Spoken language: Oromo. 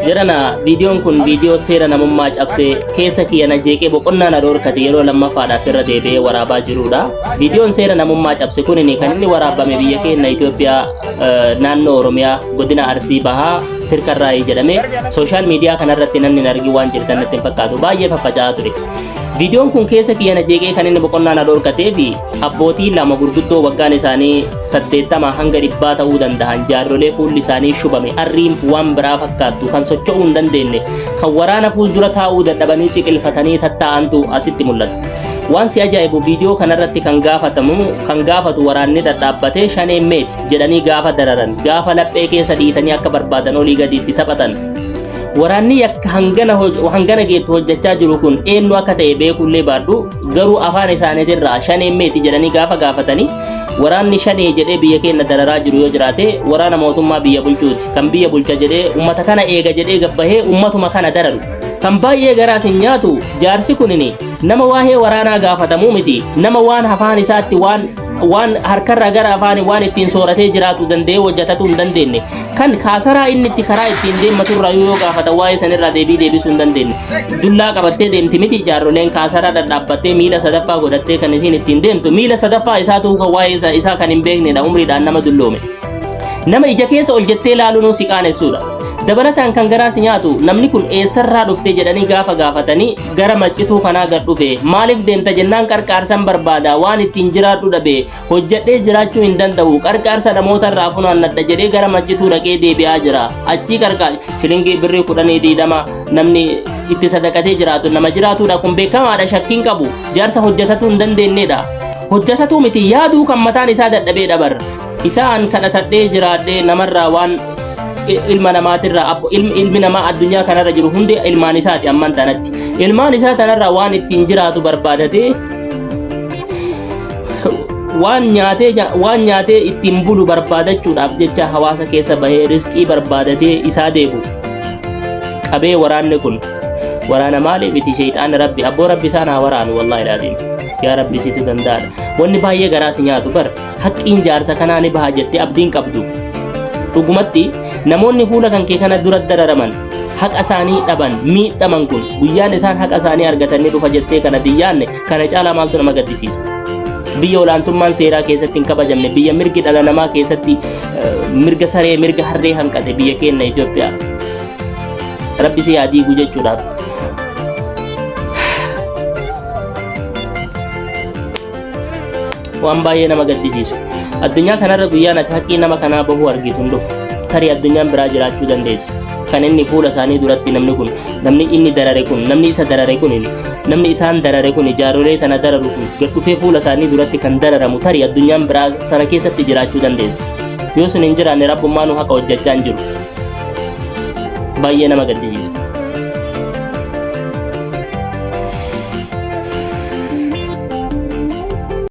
Jedhana viidiyoon kun viidiyoo seera namummaa cabsee keessa kiyya na jeeqee boqonnaa na dhoorkate yeroo lammaffaadhaaf irra deebi'ee waraabaa jirudha. Viidiyoon seera namummaa cabse kun kan inni waraabame biyya keenya Itoophiyaa eh, naannoo Oromiyaa godina Arsii Bahaa Sirkarraayii jedhame sooshaal miidiyaa kanarratti namni hin argin waan jirtan natti hin fakkaatu baay'ee faffaca'aa ture. Viidiyoon kun keessa kiyya na jeeqee kan inni boqonnaa na dhoorkatee fi Abbootii lama gurguddoo waggaan isaanii 80 hanga dhibbaa ta'uu danda'an jaarrolee fuulli isaanii shubame arriin waan biraa fakkaattu kan socho'uu hin dandeenye kan waraana fuuldura taa'uu dadhabanii ciqilfatanii tattaa'antu asitti mul'ata. Waan si ajaa'ibu viidiyoo kanarratti kan gaafatamu kan gaafatu waraanni dhadhaabbatee shaneen meeti jedhanii gaafa dararan gaafa laphee keessa dhiitanii akka barbaadan olii gadiitti taphatan waraanni yakka hangana hoj- hangana geettu hojjechaa jiru kun eenyu akka ta'e beekuullee baadhu garuu afaan isaaniitirraa shanee meeti jedhanii gaafa gaafatanii waraanni shanee jedhee biyya keenya dararaa jiru yoo jiraate waraana mootummaa biyya bulchuuti kan biyya bulcha jedhee ummata kana eega jedhee gabbahee ummatuma kana dararu kan baay'ee garaas hin nyaatu jaarsi kunini nama waa'ee waraanaa gaafatamuu miti nama waan afaan isaatti waan waan harkarraa gara afaanii waan ittiin sooratee jiraatu danda'ee hojjetatuu hin dandeenye kan kaasaraa inni itti karaa ittiin deemmatu irraa yoo gaafata waa'ee sanirraa deebii deebisuu hin dandeenye dullaa qabattee deemti miti jaarroleen kaasaraa dhadhaabbattee miila sadaffaa godhattee kan isiin ittiin deemtu miila sadaffaa isaa ta'uu kan waa'ee isaa- isaa kan hin beeknedha umriidhaan nama dulloome nama ija keessa ol jettee ilaaluun si qaanessuudha dabalataan kan garaa si nyaatu namni kun eessarraa dhufte jedhanii gaafa gaafatanii gara maccituu kanaa gad dhufe maaliif deemta jennaan qarqaarsan barbaada waan ittiin jiraadhu dhabe hojjedhee jiraachuu hin danda'u qarqaarsa namoota irraa funaannadha jedhee gara maccituu dhaqee deebi'aa jira achii qarqaar shilingii birrii kudhanii diidama namni itti sadaqatee jiraatu nama jiraatudha kun beekamaadha shakkiin qabu jaarsa hojjetatuu hin dandeenyedha hojjetatuu miti yaaduu kan mataan isaa dadhabee dhabar Isa an kadhatadhee jiraadhee namarraa waan i- ilma namaatirraa abbo- ilmi ilmi namaa addunyaa kanarra jiru hundi ilmaan isaati amman tanatti. Ilmaan isaa tanarraa waan ittiin jiraatu barbaadatee waan nyaatee ja- waan nyaatee ittiin bulu barbaadachuudhaaf jecha hawaasa keessa bahee riskii barbaadatee isaa deebu qabee waraanni kun waraana maaliif itti sheexaan rabbi abboo rabbi isaan haa waraanu wallaahi laadiin yaa rabbi situ danda'aadha wanni baay'ee garaa si nyaatu bar Haqqiin jaarsa kanaa ni baha jettee abdiin qabdu. Dhugumatti namoonni fuula kan kee kana dura dararaman haqa isaanii dhaban miidhaman kun guyyaan isaan haqa isaanii argatan ni dhufa jettee kana diyyaanne kana caalaa maaltu nama gaddisiisa. Biyya olaantummaan seeraa keessatti hin kabajamne biyya mirgi dhala namaa keessatti eh, mirga saree mirga harree hanqate biyya keenya Itoophiyaa. Rabbi si haa diigu jechuudhaaf waan baay'ee nama gaddisiisu addunyaa kanarra guyyaan ati haqqii nama kanaa bahuu argitu hin dhufu tarii addunyaan biraa jiraachuu dandeessi kan inni fuula isaanii duratti namni kun namni inni darare kun namni isa darare kun namni isaan darare kun jaarolee tana dararu kun gad dhufee fuula isaanii duratti kan dararamu tarii addunyaan biraa sana keessatti jiraachuu dandeessi yoo sun hin jiraanne rabbummaanu haqa hojjechaa hin jiru baay'ee nama gaddisiisa.